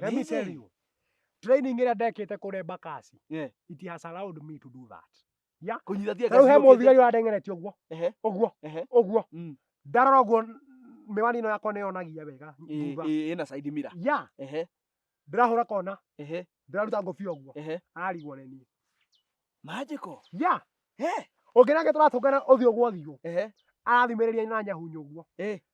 Let me tell you. Training ĩrĩa ndekĩte kũrĩa Bakasi. Yeah. It has allowed me to do that. Yeah. Kũnyita thia kazi. He mũthigari ũrandengeretie ũguo. Ehe. Ũguo. Ehe. Ũguo. Mm. Ndarora ũguo miwani ĩno yakwa nĩyonagia wega. Ĩna side mirror. Yeah. Ehe. Ndĩrahũra kona. Ehe. Ndĩraruta ngũbia ũguo. Ehe. Arigwo nĩ niĩ. Magical. Yeah. He. Ũngĩ nake tũratũngana ũthiũ gwa ũthiũ. Ehe. Arathimĩrĩria na nyahunyũ ũguo. Eh.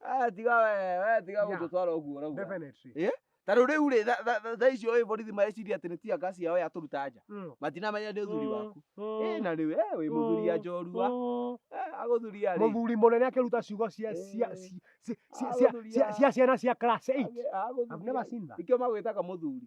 Eh, tiga we, we tiga Yeah. gũtũtwara ũguo ũrauga. Definitely. Ta rĩu rĩu rĩ, tha- tha- tha- thaa icio ĩ borithi mareciria atĩ nĩ tia ngasi yao yatũruta nja. Mm. Matinamenya nĩ ũthuri waku. Ĩ na rĩu, eh, wĩ mũthuria njorua. Mm. Eh, agũthuria rĩ. Mũthuri mũnene akĩruta ciugo cia cia Eh. ci- ci- ci- cia- Agũthuria. cia- cia ciana cia class 8. Agĩ- agũthuria. I've never seen that. Nĩkĩo magwĩtaga mũthuri.